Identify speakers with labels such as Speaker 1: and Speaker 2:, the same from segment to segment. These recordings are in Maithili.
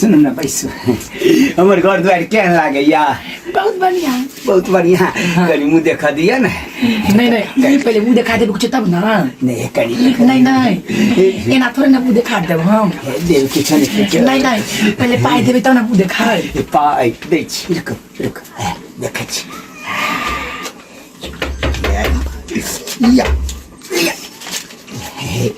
Speaker 1: सुनू ने बैसू हमर घर दुआरि केहन लागैया बहुत बढ़िया
Speaker 2: बहुत बढ़िया
Speaker 1: कनि मुँह देखा दिअ ने नहीं नहीं
Speaker 2: ई पहिले मुंह देखा देबे कुछ तब ना नहि कनि देखा
Speaker 1: नहीं नहीं
Speaker 2: एना थोड़े ना मुंह देखा देब हम दिअ। देव किछु नहि नहीं
Speaker 1: खेलक। नहीं
Speaker 2: पहिले पाई देबे तब ना मुंह देखा ए, पाइ दै
Speaker 1: छी रुक रुक ए, देखै छी या, या।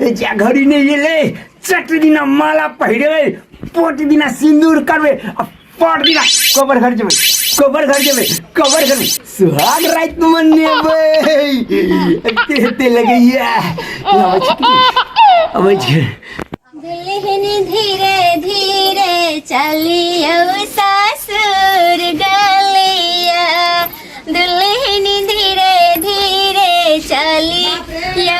Speaker 1: ए जा घड़ी ने ये ले चट दिना माला पहिरे पोट दिना सिंदूर करवे अब पोट दिना कबर घर जेबे कबर घर जेबे कबर घर में सुहाग रात मनेबे तेते लगैया अब छे दुल्हन धीरे
Speaker 3: धीरे चली अब सासुर गलिया दुल्हनी धीरे धीरे चली यो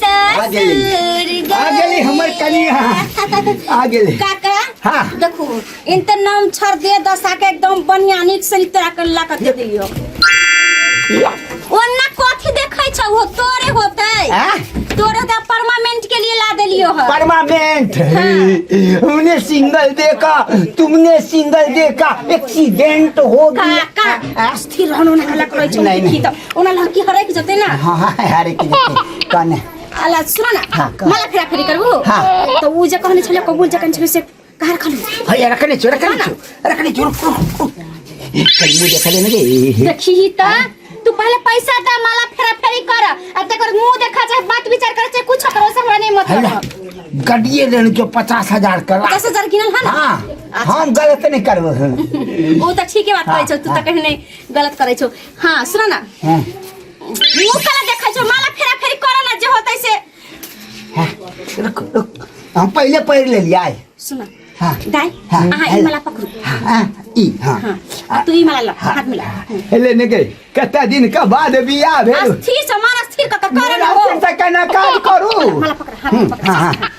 Speaker 3: आ गेली ससुर आ गेली
Speaker 1: हमर कनिया आ गेली काका
Speaker 3: हाँ। देखू
Speaker 1: इनते
Speaker 3: नाम छर दे दसा के एकदम बढ़िया नीक से तोरा के ला के दे दियो ओन्ना कथी देखै छ हो तोरे होतै आ? तोरे का परमानेंट के लिए ला देलियो ह परमानेंट
Speaker 1: हमने सिंगल देखा तुमने सिंगल देखा एक्सीडेंट हो गया काका आस्थी
Speaker 3: रहन ओना हला करै छौ नहीं, देखी नहीं। त ओना लड़की
Speaker 1: हरै
Speaker 3: के जते ना हाँ हाँ अरे की जते
Speaker 1: कने आला सुन ना
Speaker 3: हाँ, कह। मला खरा खरी करबो हाँ। त उ जे कहने छले कबूल जकन छले से कार खलु भैया रखने चो रखने
Speaker 1: चो रखने चो रुक, रुक, रुक। कल मुझे खले ना रे देखी ही त
Speaker 3: तू पहले पैसा दा मला फेरा फेरी कर आ तकर मुंह देखा चाहे बात विचार करे चाहे कुछ करो से हमरा नहीं है ना मतलब गड्डिए लेने जो
Speaker 1: पचास हजार का पचास हजार किनल है ना हाँ
Speaker 3: अच्छा। हम गलत
Speaker 1: नहीं करबो हूँ ओ तऽ
Speaker 3: ठीके बात करै छौ तू तऽ कहीं नहि गलत करै छौ हाँ सुन ना हाँ, मुँह कला देखै छौ माला फेरा फेरी करऽ ना जे होतै से हाँ, रुक रुक
Speaker 1: हम पहले पढ़ ले लिया सुन ना हाँ दाई हाँ, अहाँ
Speaker 3: ई
Speaker 1: हेलो।
Speaker 3: माला पकड़ू हाँ ई
Speaker 1: हाँ हाँ आ तू ई माला लऽ हाथ
Speaker 3: मिला हेले ने गई
Speaker 1: कते दिन का बाद बियाह भेल अस्थिर से मन अस्थिर कऽ
Speaker 3: कऽ करऽ ना हो मोनास्थिर से केना काज
Speaker 1: करू माला पकड़ हाथ हम्म, पकड़
Speaker 3: हाँ हाँ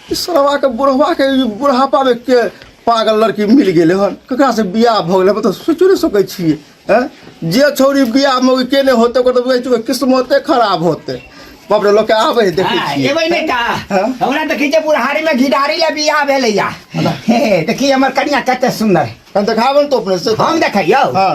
Speaker 4: सरवा के बुढ़वा के ई बुढ़ापा में के पागल लड़की मिल गेले हन ककरा से बियाह भ गेले मतलब सोचो नहीं सकै छियै हैं जे छौरी बियाह में ओके केने होते ओकर तऽ बुझै छियै ओकर किस्मते खराब होते बाप रे लोग के आबै है देखै हाँ, छियै एबै नहि का हाँ?
Speaker 1: हमरा देखै छै बुढ़ारी में घिडारी ले बियाह भेलैया हे देखी हमर कनिया कते सुंदर हम देखाबन तो अपने
Speaker 4: से हम देखै यौ हाँ।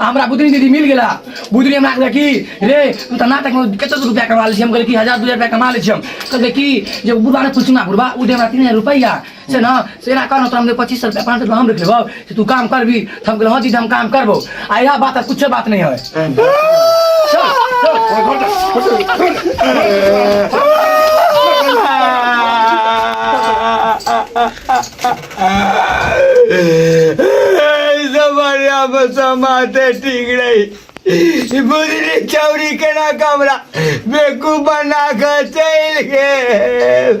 Speaker 2: हमरा बुधनी दीदी मिल गेला बुधनी हमरा कहले कि रे तू तना तक कते रुपया कमा ले छी हम कहले कि 1000 2000 रुपया कमा ले छी हम कहले कि जे बुढ़वा ने कुछ ना बुढ़वा उ दे हमरा 3000 रुपया छै ने से एना कहलहुँ तोरा हम पच्चीस सए रुपैआ पाँच सए रुपैआ हम रखि लेबौ से तू काम करबी तऽ हम कहलहुँ हँ जी हम काम करबौ आ इएह बात आ किछो बात नहि हइ चल,
Speaker 1: चल। जमानिया में समाते ठीक रही ई बुझली चौरी केना कमरा बेकू बना के चलि गेल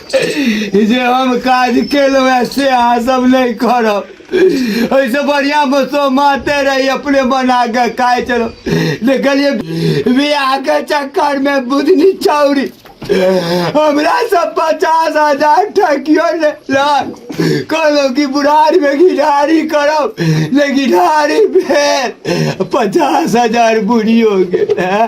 Speaker 1: ई जे हम काज केलहुँ हैं से अहाँ सब नहीं करब ऐसे बढ़िया बसो माते रही अपने बना के खाए चलो देखलिए बियाह के चक्कर में बुधनी चौरी हमरा सब पचास हजार ठकियो ले लाख कहलो कि बुढ़ारी में घिढ़ारी करब ले घिढ़ारी भेल पचास हजार बुढ़ियो गेल हैं